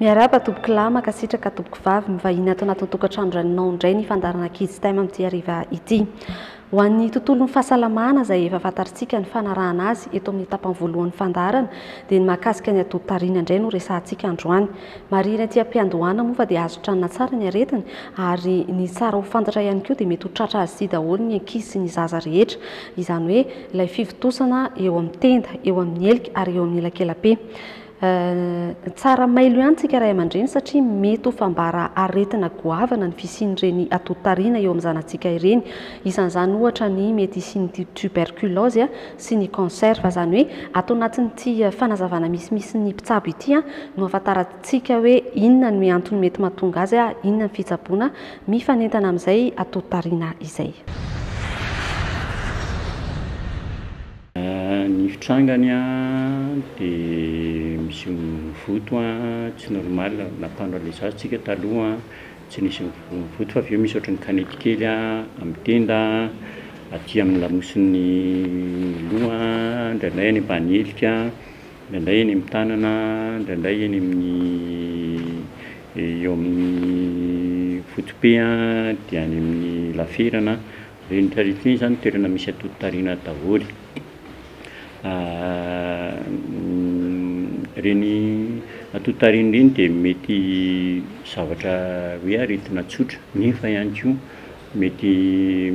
Miarahaba tompokolahy, mankasitraka tompokovavy, mivahiny ato anatin'ny tokantrano raininao indray ny fandaharana Kids Time amin'ity hariva ity. Ho an'ny tontolon'ny fahasalamana izay efa fantarintsika ny fanarahana azy eto amin'ny tapany voalohan'ny fandaharana dia ny mahakasika ny atoditarina indray no resahantsika androany. Marihina ety am-piandohana moa fa dia azo tranona tsara ny aretina ary ny tsara ho fantatra ihany koa dia mety ho tratra azy ity daholo ny ankizy sy ny zaza rehetra izany hoe ilay fivontosana eo amin'ny tenda, eo amin'ny helika ary eo amin'ny elakelape. Tsara mailo ihany tsika ray aman-dreny satria mety ho fambara aretina goavana ny fisian'ireny atoditarina eo amin'ny zanatsika ireny. Isan'izany ohatra ny mety hisian'ny tuberculose sy ny cancer. Fa izany hoe ato anatin'ity fanazavana misimisy ny mpitsabo ity no ahafantarantsika hoe inona ny antony mety mahatonga azy, inona ny fitsaboana mifanentana amin'izay atoditarina izay. Ny fitrangany dia misy mivoto tsy normal na panneau de l'essence tsika taloha tsy nisy mivoto fa avy eo misy ohatran'ny kanety kely amin'ny tenda aty amin'ny lamosin'ny loha indraindray any ambany helika indraindray eny amin'ny tanana indraindray eny amin'ny eo amin'ny foto-pe dia any amin'ny laferana Ireny tarify ireny izany toerana misy antontan-tariana daholo. Ireny antontan-tariana ireny dia mety zavatra hoe aretina tsotra nefa ihany koa mety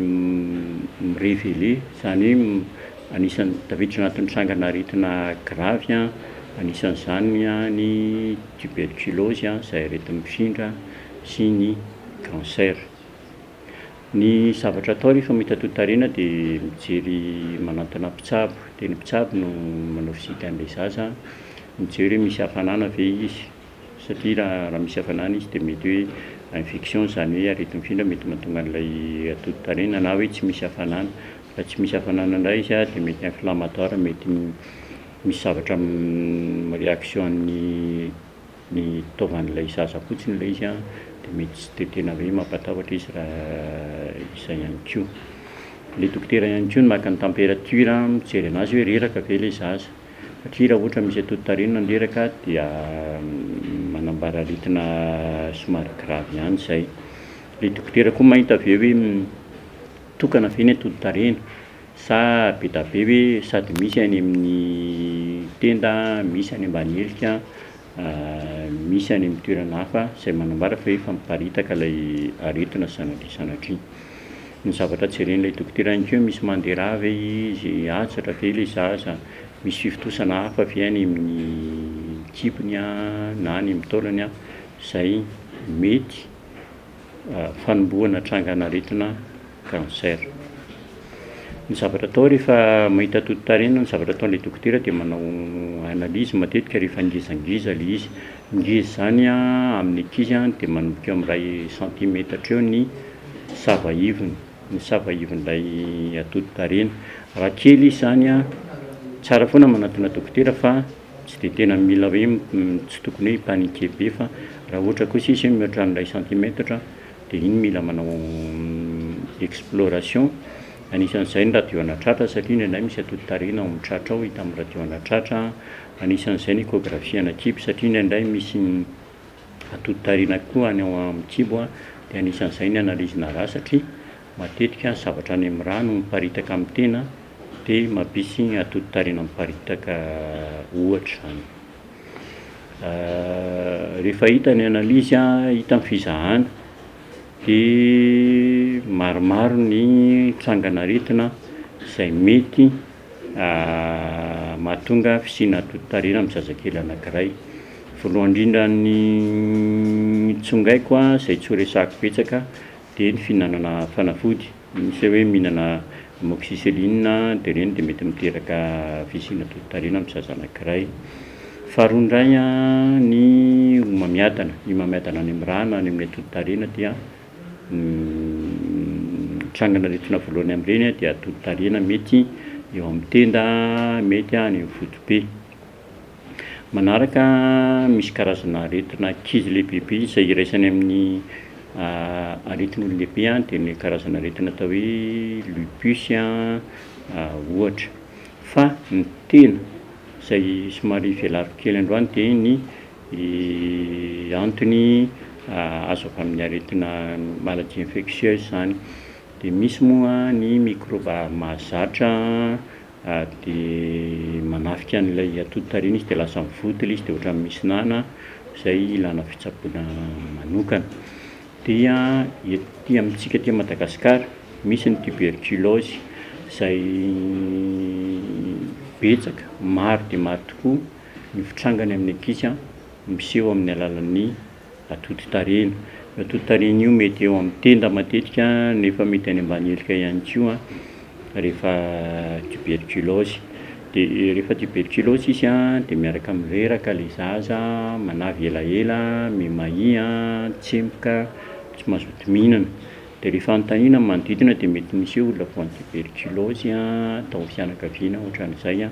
mi-reveler, izany hoe anisan'ny tafiditra anatin'ny trangana aretina gravy an, anisan'izany ny tuberculose izay aretina mpifindra sy ny cancer. Ny zavatra atao rehefa mitatotariana dia mijery manantona mpitsabo, dia ny mpitsabo no manao visite an'ilay zaza, mijery hoe misy hafanana ve izy, satria raha misy hafanana izy dia mety hoe infection izany hoe aretin-findra mety mahatonga an'ilay atototariana na hoe tsy misy hafanana, raha tsy misy hafanana indray izy dia mety inflammatoire mety misy zavatra mi-reaction an'ny. Ny taovan'ilay zaza fotsiny ilay izy dia mety tsy dia tena hoe mampatahotra izy raha izay ihany koa. Ilay dokotera ihany koa no maka ny temperature mijery an'azy hoe reraka ve ilay zaza. Satria raha ohatra misy atotarenina ny reraka dia manambara aretina somary gravy ihany izay. Ilay dokotera koa mahita avy eo hoe tokana ve ny atotarenina. Sa be da be hoe sady misy any amin'ny tenda, misy any ambany helika, misy any amin'ny toerana hafa izay manambara fa efa miparitaka ilay aretina sanatria sanatria. Ny zavatra jeren'ilay dokotera ihany koa hoe misy mandera ve izy, atsatra ve ilay zaza, misy fivontosana hafa ve any amin'ny kibony na any amin'ny taolany izay mety fanombohana trangan'aretina cancer. Ny zavatra atao rehefa mahita toto-tarehy na ny zavatra ataon'ilay dokotera dia manao analyse matetika rehefa ngezangiza ilay izy. Ngeza izany amin'ny ankizy dia manomboka eo amin'ny iray santimetatra eo ny sava ivony, ny sava ivon'ilay atoto-tarehiny. Raha kely izy izany, tsara foana ny manantona dokotera fa. Tsy dia tena mila hoe tsy tokony hoe hi-paniquer be fa raha ohatra kosa izy hoe mihoatra an'ilay centimetatra dia iny mila manao exploration, anisan'izay ny radio anatratra satria indraindray misy atoditarihina ao amin'ny tratra ao hita amin'ny radio anatratra, anisan'izay ny échographie ana kibo satria indraindray misy atoditarihina koa any amin'ny kibo dia anisan'izay ny analyse-na ra satria Matetika ny zavatra any amin'ny rà no miparitaka amin'ny tena dia mampisy atodi-tarena miparitaka ohatra izany. Rehefa hita ny analyse hita ny fizahana dia maromaro ny trangan'aretina izay mety mahatonga fisiana atodi-tarena amin'ny zazakely anankiray. Voalohany indrindra ny tsongaiko izay tsy ho resahiko betsaka Dia ny fihinanana fanafody, misy hoe mihinana amoxicilline dia ireny dia mety miteraka fisiana dodon-karena amin'ny zaza anankiray. Faharoa indray ny homamiadana, ny homamiadana any amin'ny ra na any amin'ny atodin-karena dia mitrangana aretina voalohany amin'ireny dia atodin-karena mety eo amin'ny tenda, mety any amin'ny foto-pe. Manaraka, misy karazana aretina ankizy lehibebe izay iraisany amin'ny aretin'olon-dehibe dia ny karazana aretina atao hoe lupus ohatra. Fa ny tena izay somary velariko kely androany dia ny antony azo avy amin'ny aretina maladie infectieuse izany. Dia misy moa ny mikrôba mahazatra ary dia manafika an'ilay atody tariana izy dia lasa mivoty ilay izy dia ohatran'ny misy nana izay ilana fitsaboana manokana. Dia ety amintsika aty Madagasikara, misy ny tuberculose izay betsaka, maro dia maro tokoa ny fitrangany amin'ny ankizy miseho amin'ny alalan'ny Atodi-tarehina, io atodi-tarehina io mety eo amin'ny tenda matetika nefa mety any ambany helika ihany koa rehefa tuberculose, dia rehefa tuberculose izy an dia miaraka amin'ny reraka ilay zaza, manavy elaela, mimahia, tsemboka, tsy mazoto mihinana, dia rehefa anontaniana ny manodidina dia mety misy hoe olona voan'ny tuberculose tao amin'ny fianakaviana ohatran'izay an,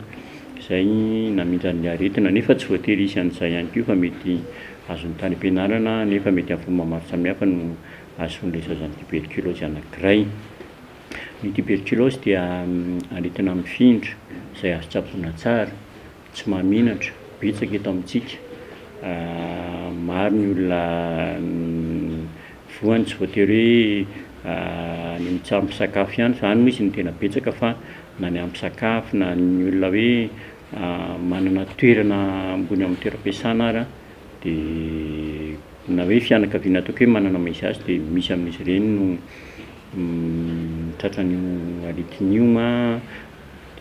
izay namindran'ny aretina nefa tsy voatery hisy an'izay ihany koa fa mety Azon'ny tany am-pianarana anefa mety amin'ny fomba maro samihafa no ahazoany resazana ny tiberkilaozy anankiray. Ny tiberkilaozy dia aretina mifindra izay azo tsaboina tsara, tsy mahamenatra, betsaka eto amintsika. Maro ny olona voany, tsy voatery hoe any amin'ny tsaha-mpisakafo ihany izany no izy no tena betsaka fa na ny amin'ny mpisakafo na ny olona hoe. manana toerana ambony amin'ny toeram-piasana ary dia na hoe fianakaviana ataoko hoe manana maison hache dia misy amin'izy ireny no tratran'io aretina io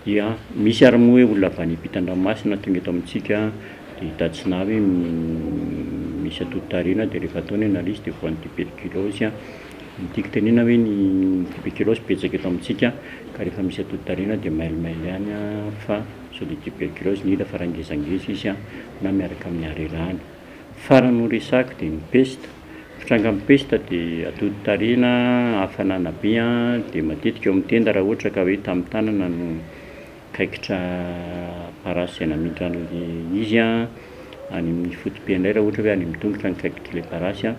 dia misy ary moa hoe olona avy any ampitan-dranomasina tonga eto amintsika dia hitantsina avy hoe misy atody tarehy na dia efa refa atao ny analyse dia voan'ny tuberculose Ny tiako tenena hoe ny tuberculose betsaka eto amintsika ka rehefa misy atody tariana dia mailomailo ihany fa sao dia tuberculose no hita fa raha ngezangeza izy na miaraka amin'ny harerahana. Farany ho resahiko dia ny pesta, ny trangan'ny pesta dia atody tariana, hafanana be dia matetika eo amin'ny tenda raha ohatra ka hoe tamin'ny tanana no kaikitra parasy izay namintra an'ilay izy, any amin'ny foto-pe indray raha ohatra hoe any amin'ny tongotra no kaikitr'ilay parasy.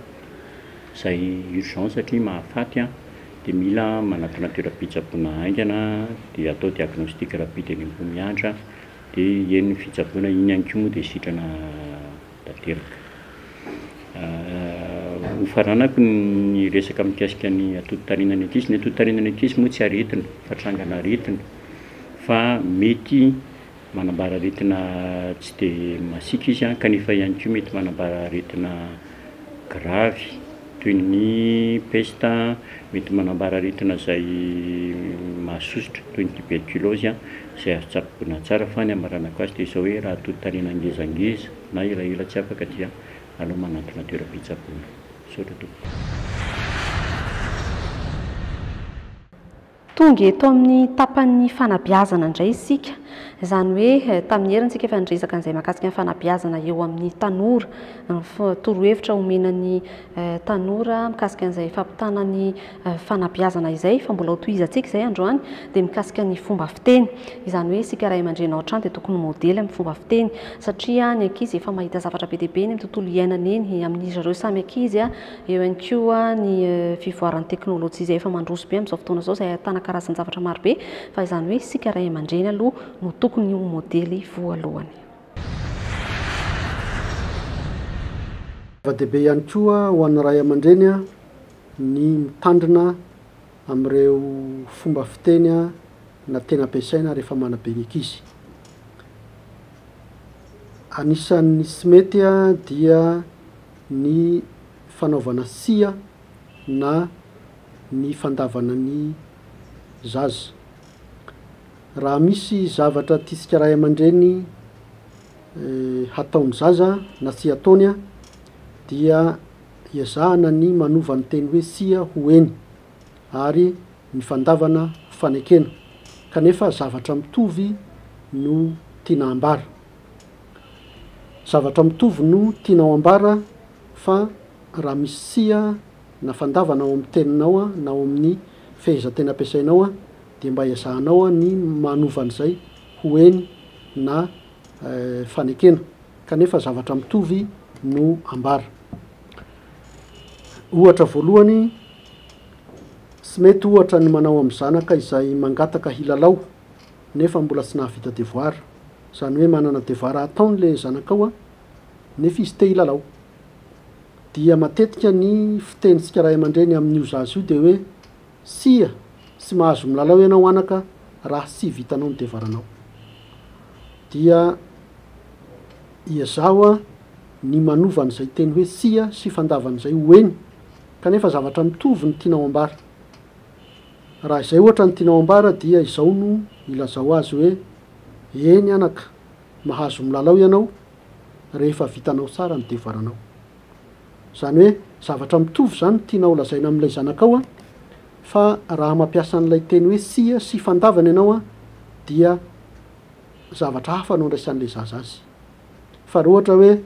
Izay urgent satria mahafaty an, dia mila manatona toeram-pitsaboana haingana dia atao diagnostic rapide eny Ambohimiandra dia eny ny fitsaboana, iny ihany koa moa dia sitrana tanteraka. Ho faranako ny resaka mikasika ny atodin-tarinan'ny ankizy, ny atodin-tarinan'ny ankizy moa tsy aretina fa trangan'aretina fa mety Manambara aretina tsy dia masiaka izy kanefa ihany koa mety manambara aretina gravy toy ny pesta, mety manambara aretina izay mahasosotra toy ny tuberculose izay azo tsaboina tsara fa ny hamaranako azy dia izao hoe raha tontanina ngezangeza na elaela tsy afaka dia aleo manantona toeram-pitsaboana. Misaotra tompoko. Tonga eto amin'ny tapan'ny fanabeazana indray isika, izany hoe tamin'ny heriny isika efa niresaka an'izay mahakasika ny fanabeazana eo amin'ny tanora, ny torohevitra omena ny tanora mikasika an'izay fampitana ny fanabeazana izay, fa mbola hotohizantsika izay androany, dia mikasika ny fomba fiteny, izany hoe isika ray aman-dreny ao an-trano dia tokony ho modely amin'ny fomba fiteny, satria ny ankizy efa mahita zavatra be dia be eny amin'ny tontolo iainana eny, amin'izy ireo samy ankizy, Eo ihany koa ny fivoaran'ny teknolojia izay efa mandroso be amin'izao fotoana izao, izay ahitana karazan-javatra maro be, fa izany hoe isika ray aman-dreny aloha no tokony ho modely voalohany. Zava-dehibe ihany koa ho an'ny ray aman-dreny ny mitandrina amin'ireo fomba fiteny na teny ampiasaina rehefa manabe ny ankizy. Anisan'ny tsy mety dia ny fanaovana sia na ny fandavana ny zaza. Raha misy zavatra tiantsika ray aman-dreny hataon'ny zaza na tsy hataony dia ezahana ny manova ny teny hoe tsia ho eny ary ny fandavana ho fanekena kanefa zavatra mitovy no tiana hambara. Zavatra mitovy no tianao ambara fa raha misy tsiha na fandavana ao amin'ny teninao na ao amin'ny fehezantena ampiasainao dia mba ezahanao ny manova an'izay ho eny na fanekena kanefa zavatra mitovy no ambara. Ohatra voalohany, Tsy mety ohatra ny manao amin'ny zanaka izay mangataka hilalao nefa mbola tsy nahavita devoir, zany hoe manana devoir ataony le zanakao a, nefa izy te hilalao. Dia matetika ny fitenintsika ray aman-dreny amin'io zaza io dia hoe, tsia, tsy mahazo milalao ianao anaka raha tsy vitanao ny devoiranao. Dia iezaho a ny manova an'izay teny hoe tsia sy fandavana izay ho eny, kanefa zavatra mitovy no tianao ambara. Raha izay ohatra no tianao ambara dia izao no ilazao azy hoe, Eny anaka, mahazo milalao ianao rehefa vitanao tsara ny devoaranao. Izany hoe zavatra mitovy izany no tianao holazaina amin'ilay zanakao fa raha mampiasa an'ilay teny hoe tsia sy fandavana ianao dia zavatra hafa no andraisan'ilay zaza azy. Fa raha ohatra hoe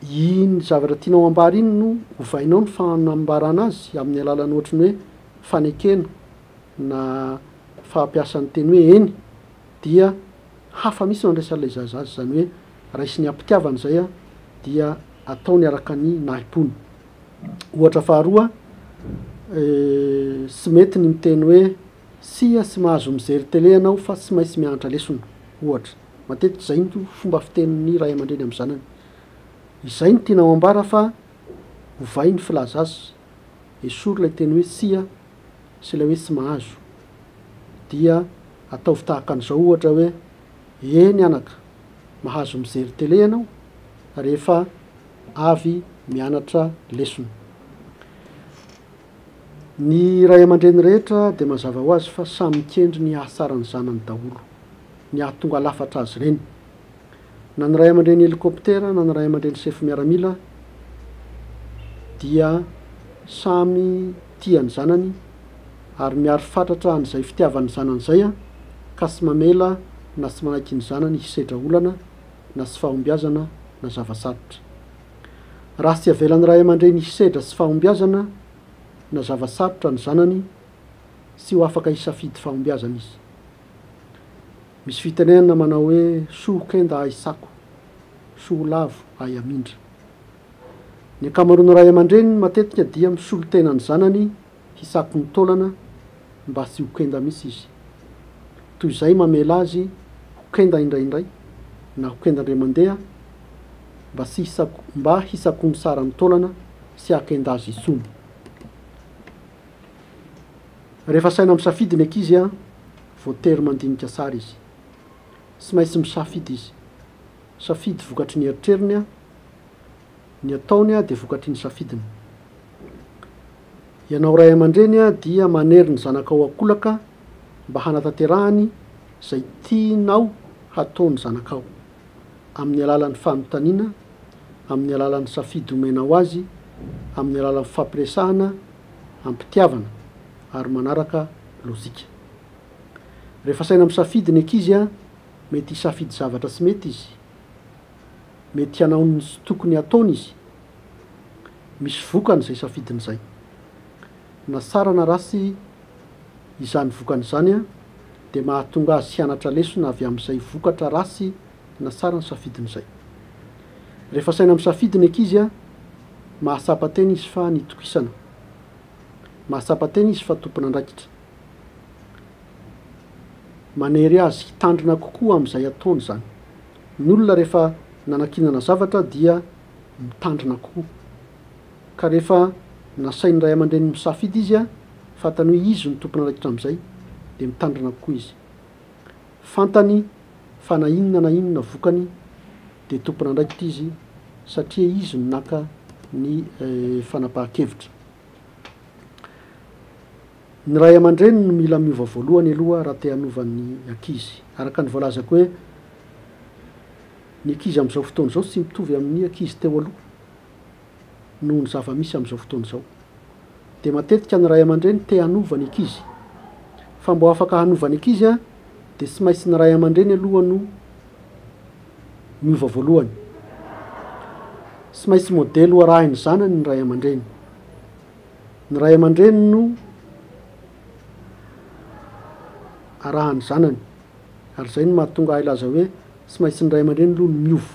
iny zavatra tianao ambara iny no ovainao ny fanambarana azy amin'ny alalan'ny ohatry ny hoe, fanekena na fahampiasan'ny teny hoe eny dia hafa mihitsy ny andraisan'ilay zaza azy, izany hoe raisiny am-pitiavana izay dia ataony araka ny nahim-pony. Ohatra faharoa, tsy mety ny miteny hoe tsia tsy mahazo mijery tele ianao fa tsy maintsy mianatra lesona, ohatra. Matetika izay no fomba fitenin'ny ray aman-dreny amin'ny zanany. Izay no tianao ambara fa ovay ny filaza azy Esory ilay teny hoe tsia sy ilay hoe tsy mahazo. Dia ataovy tahaka an'izao ohatra hoe, Eny anaka, mahazo mijery tele ianao rehefa avy mianatra lesona. Ny ray aman-dreny rehetra dia mazava ho azy fa samy mikendry ny hahatsara ny zanany daholo, ny hahatonga lafatra azy ireny. na ny ray aman-dreny helikoptera na ny ray aman-dreny sefo miaramila dia samy tia ny zanany ary miaro fatratra an'izay fitiavan'ny zanany izay an, ka tsy mamela na tsy manaiky ny zanany hisedra olana na tsy fahombiazana na zava-tsarotra. Raha tsy avelan'ny ray aman-dreny hisedra tsy fahombiazana na zava-tsarotra ny zanany, tsy ho afaka hisafidy fahombiazana izy. Misy fitenenana manao hoe soho kenda ahy sako, soho lavo ahy amindra. Ny ankamaroan'ny ray aman-dreny matetika dia misolo tena ny zanany hisako ny taolana mba tsy ho kenda mihitsy izy. Toy izay mamela azy ho kenda indraindray na ho kenda indray mandeha mba tsy hisako mba hisakoany tsara ny taolana sy hahakenda azy intsony. Rehefa asaina misafidy ny ankizy, voatery mandinika tsara izy. Tsy maintsy misafidy izy. Safidy vokatry ny eritreriny, ny ataony dia vokatry ny safidiny. Ianao ray aman-dreny dia manery ny zanakao an-kolaka mba hanatanterahany izay tianao hatao ny zanakao, amin'ny alalan'ny fanontaniana, amin'ny alalan'ny safidy omenao azy, amin'ny alalan'ny fifampiresahana am-pitiavana ary manaraka lojika. Rehefa saina misafidy ny ankizy, mety hisafidy zavatra tsy mety izy, mety hanao ny tsy tokony hataony izy. Misy vokany izay safidiny izay. Na tsara na ratsy izany vokany izany, dia mahatonga azy hianatra lesona avy amin'izay vokatra ratsy na tsara nisafidiny izay. Rehefa saina misafidy ny ankizy, Mahatsapa tena izy fa nitokisana. Mahatsapa tena izy fa tompon'andraikitra. Manery azy hitandrina kokoa amin'izay ataony izany. Ny olona rehefa nanankinana zavatra dia mitandrina kokoa. Ka rehefa nasain'ny ray aman-dreniny misafidy izy, fantany hoe izy no tompon'andraikitra amin'izay, dia mitandrina kokoa izy. Fantany fa na inona na inona vokany, dia tompon'andraikitra izy satria izy no naka ny fanapahan-kevitra. Ny ray aman-dreny no mila miova voalohany aloha raha te hanova ny ankizy. Araka ny voalazako hoe ny ankizy amin'izao fotoana izao tsy mitovy amin'ny ankizy teo aloha. noho ny zava-misy amin'izao fotoana izao. Dia matetika ny ray aman-dreny te hanova ny ankizy. Fa mba afaka hanova ny ankizy dia tsy maintsy ny ray aman-dreny aloha no miova voalohany. Tsy maintsy modely ho arahin'ny zanany ny ray aman-dreny. Ny ray aman-dreny no arahan'ny zanany. Ary izay no mahatonga ahy hilaza hoe tsy maintsy ny ray aman-dreny aloha no miova.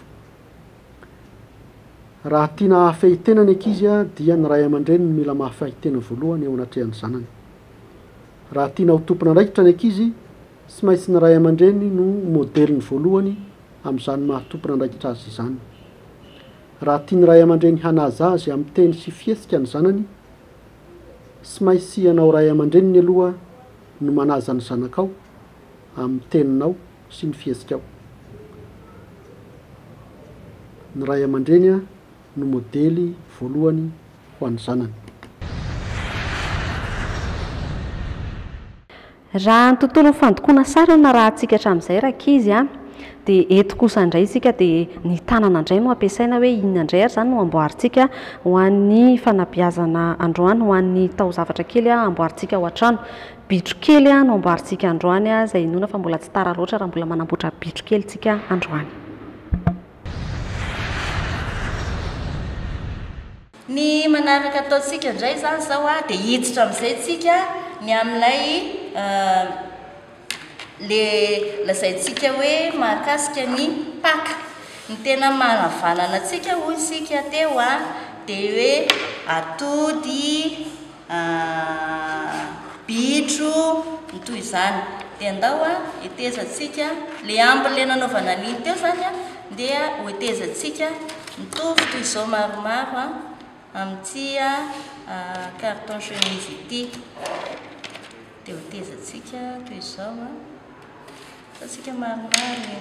Raha tiana hahafehy tena ny ankizy dia ny ray aman-dreny no mila mahafehy tena voalohany eo anatrehan'ny zanany. Raha tiana ho tompon'andraikitra ny ankizy, tsy maintsy ny ray aman-dreny no modeliny voalohany amin'izany maha tompon'andraikitra azy izany. Raha tian'ny ray aman-dreny hanaja azy amin'ny teny sy fihetsika ny zanany, tsy maintsy ianao ray aman-dreniny aloha no manaja ny zanakao amin'ny teninao, sy ny fihetsika-o. Ny ray aman-dreny no modely voalohany ho an'ny zanany. Raha ny tontolon'ny fandokoana sary no narahantsika hatramin'izay rankizy an! dia eto kosa indray isika dia ny tanana indray no ampiasaina hoe inona indray ary izany no amboarintsika ho an'ny fanabeazana androany ho an'ny taozavatra kely amboarintsika ao an-trano. Bitro kely no amboarintsika androany izay inoana fa mbola tsy tara loatra raha mbola manamboatra bitro kely tsika androany. Ny manaraka ataontsika indray izany izao dia hiditra amin'izay tsika ny amin'ilay le lazaintsika hoe mahakasika ny Paka. Ny tena manavanana antsika hoy isika teo dia hoe atody, Aah bitro ny toy izany dia ndao a hetezantsika le ambiny le nanaovana an'iny teo zany a ndeha ho hetezantsika mitovy toy izao maromaro a amin'ity a carton chemise ity dia ho hetezantsika toy izao a ataontsika maromaro e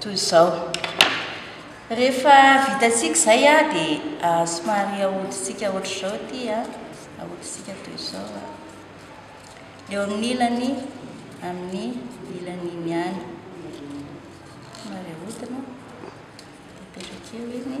Toy izao. Rehefa vitantsika izay a, dia somary ahodintsika ohatr'izao ity a. Ahodintsika toy izao a. Eo amin'ny ilany, amin'ny ilany iny ihany. Somary ahodina. Apetraka eo iny.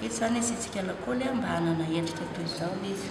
Eto izany asiantsika lakôly mba hanana endrika toy izao izy.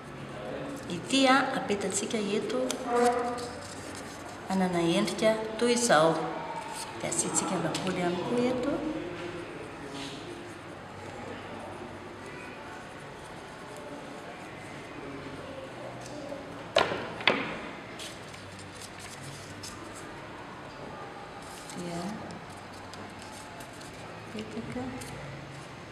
Ity apetantsika eto manana endrika toy izao. Dia asiantsika lapoaly ihany koa eto. Dia apetaka.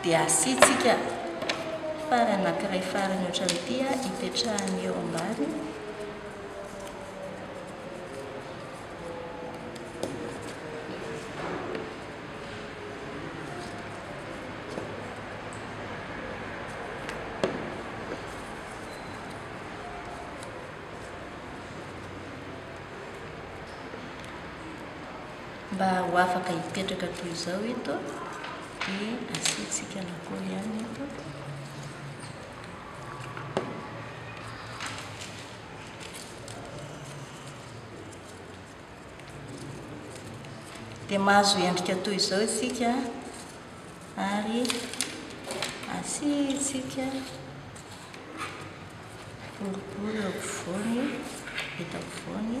Dia asiantsika fary anankiray farany ohatran'ity hipetrahany eo ambany. Mba ho afaka hipetraka toy izao eto dia asiantsika lakoly ihany eto. Dia mahazo endrika toy izao isika ary asiantsika boribory eo afovoany, eto afovoany.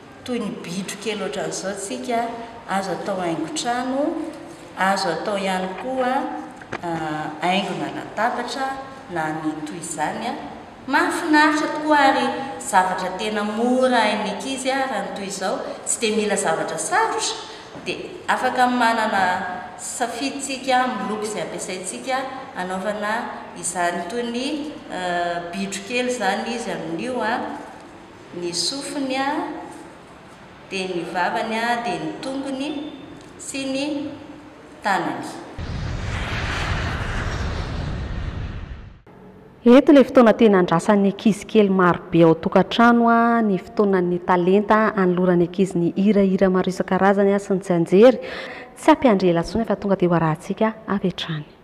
Toy ny bitro kely ohatran'izao tsika, azo atao haingon-trano, azo atao ihany koa haingona latabatra na ny toy izany. Mahafinaritra tokoa ary zavatra tena mora hain'ny ankizy raha ny toy izao, tsy dia mila zavatra sarotra dia afaka manana safidy tsika amin'ny loko izay ampiasaintsika hanaovana izany. Toy ny bitro kely izany izy amin'io. ny sofiny dia ny vavany dia ny tongony sy ny tanany. Eto ilay fotoana tena andrasan'ny ankizy kely marobe ao an-tokantrano ny fotoanan'ny talenta anoloran'ny ankizy ny hirahira maro isan-karazany sy ny tsianjery. Tsy hampiandry ela intsony fa tonga dia ho arahantsika avy hatrany.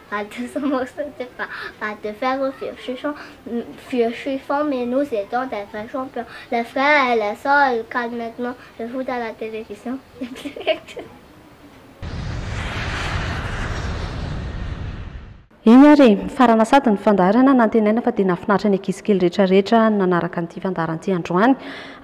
Pas de ce morceau de pain, pas de fer au vieux chichon, vieux chiffon, mais nous étions des vrais champions. Le frère et la sœur, ils calent maintenant le foot à la télévision. Eny ary e, mifarana sady ny fandaharana, nantenaina fa dia nahafinaritra ny ankizy kely rehetra rehetra nanaraka an'ity fandaharana ity androany,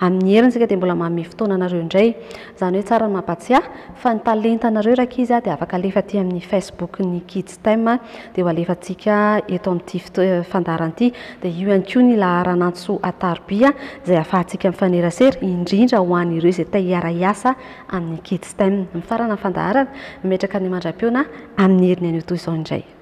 amin'ny heriny isika dia mbola manome fotoana anareo indray. Izany hoe tsara ny mampatsiahy fa ny talentanareo rankizy dia afaka alefa aty amin'ny Facebook ny Kids Time dia ho alefantsika eto amin'ity fandaharana ity. Dia io ihany koa ny laharan'antso Atarobia izay ahafahantsika mifanerasera indrindra ho an'ireo izay te hiara-hiasa amin'ny Kids Time. Mifarana ny fandaharana, mimetraka ny mandra-pihaona amin'ny herin'ny anio toy izao indray.